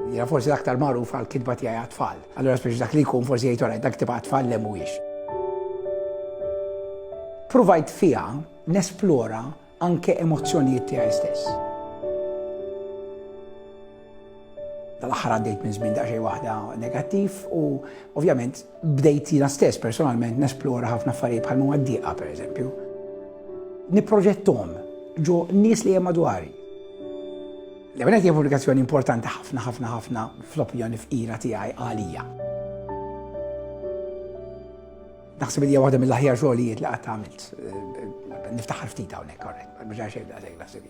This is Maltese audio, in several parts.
Jena forsi l-aktar magħruf għal kitba tiegħi għat-tfal. Allura speċi dak li jkun forsi jgħid orajt dak tibqa' tfal le mhuwiex. Provajt fiha nesplora anke emozzjonijiet tiegħi stess. Tal-aħħar għaddejt minn żmien daqsxejn waħda negattiv u ovvjament Bdejt jiena stess personalment nesplora ħafna affarijiet bħal huma d-dieqa pereżempju. Nipproġettom ġo nies li hemm madwari. L-ewwel qed pubblikazzjoni importanti ħafna ħafna ħafna fl-opinjoni fqira tiegħi għalija. Naħseb li waħda mill-aħjar xogħlijiet li qatt għamilt. Eh, niftaħar ftit hawnhekk, korrett, ma ġara xejn daqshekk naħseb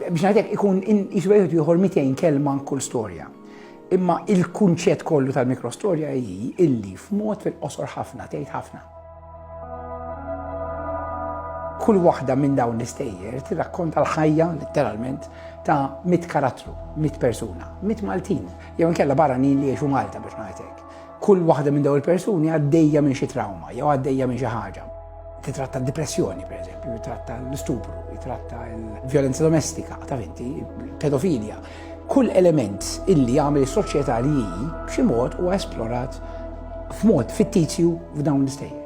Biex ngħidlek ikun qisu wieħed ieħor 200 kelma kull storja. Imma il-kunċett kollu tal-mikrostorja hi illi f'mod fil-qosor ħafna tgħid ħafna. Kull waħda minn dawn l-istejjer tirrakkonta l-ħajja letteralment ta' mit karattru, mit persuna, mit Maltin, jew inkella barranin li jgħixu Malta biex ngħidlek. Kull waħda minn dawn il-persuni għaddejja minn xi trawma jew għaddejja minn xi ħaġa. Titratta d-depressjoni, per eżempju, jitratta l-istupru, jitratta l-violenza domestika, ta' vinti, pedofilja. Kull element illi għamil is-soċjetà li hi b'xi mod huwa esplorat f'mod fittizju f'dawn l-istejjer.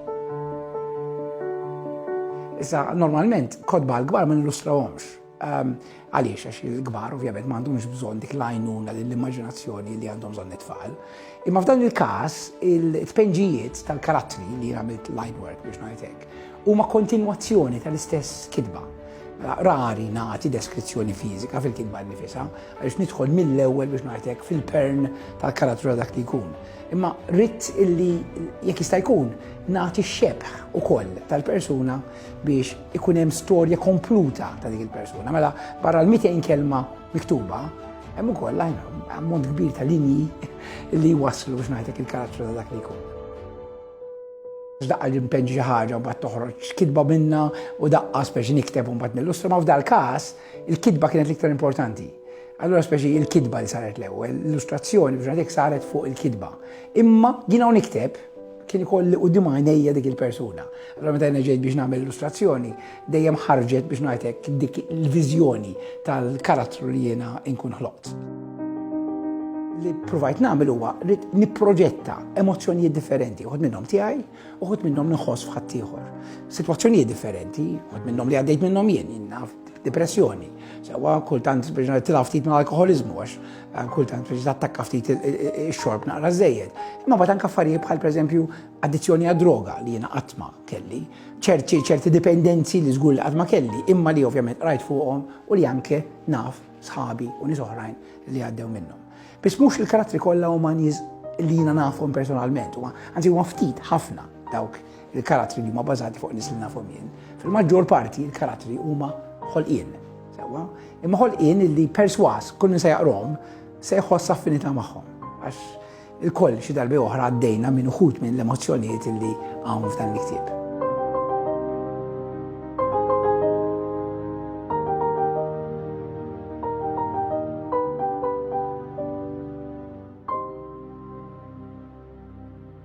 Issa, normalment, kodba għal-gbar ma nillustrawhomx. Ehm, għaliex, għax il-kbar ovvjament ma għandhomx bżonn dik l-għajnuna l-immaġinazzjoni li għandhom bżonn it-tfal. Imma f'dan il-każ, il-tpenġijiet tal-karattri li għamilt line work biex ngħidlek huma kontinwazzjoni tal-istess kitba. Mela, rari nagħti deskrizzjoni fiżika fil-kitba nifisa, għaliex nidħol mill-ewwel biex ngħidlek fil-pern tal-karattru dak li jkun. Imma rrit illi jekk jista' jkun nagħti xebħ ukoll tal-persuna biex ikun hemm storja kompluta ta' dik il-persuna. Mela, barra l-200 kelma miktuba, hemm ukoll ammont kbir ta' linji li waslu biex ngħidlek il-karattru ta' dak li jkun. Daqqa l-impenġi xi ħaġa u bat toħroġ kitba minna u daqqa speċi nikteb un bat nillustra, ma f'dal każ il-kitba kienet l-iktar importanti. Allora speċi il-kitba li saret l-ewwel, l-illustrazzjoni biex ngħidlek saret fuq il-kitba. Imma jiena u nikteb Kien ikolli quddiem għajnejja dik il-persuna. Allora meta jiena ġejt biex nagħmel illustrazzjoni, dejjem ħarġet biex ngħid hekk dik il-viżjoni tal-karattru li jiena nkun ħloqt. Li provajt nagħmel huwa rrid nipproġetta emozzjonijiet differenti, uħud minnhom tiegħi, uħud minnhom nħoss f'ħadd ieħor. Sitwazzjonijiet differenti, uħud minnhom li għaddejt minnhom jien, naf depressjoni. Sewa kultant biex tilaf ftit mal-alkoholiżmu għax Għan kultant biex tattakka ftit il-xorb naqra żejjed. Imma bat anka affarijiet bħal pereżempju addizzjoni għad droga li jiena qatt ma kelli, ċerti ċerti dipendenzi li żgur li qatt ma kelli, imma li ovvjament rajt fuqhom u li anke naf sħabi u nies oħrajn li għaddew minnhom. Biss mhux il-karattri kollha huma nies li jiena nafhom personalment, huma anzi huma ftit ħafna dawk Il-karattri li huma bażati fuq nies li nafhom jien, fil-maġġor parti il-karattri huma ħolqien. Sewwa, imma ħolqien li perswas kull min se jaqrom se jħoss affinità magħhom. Għax il-koll xi darbi oħra għaddejna minn uħud minn l-emozzjonijiet li hawn f'dan il-ktieb.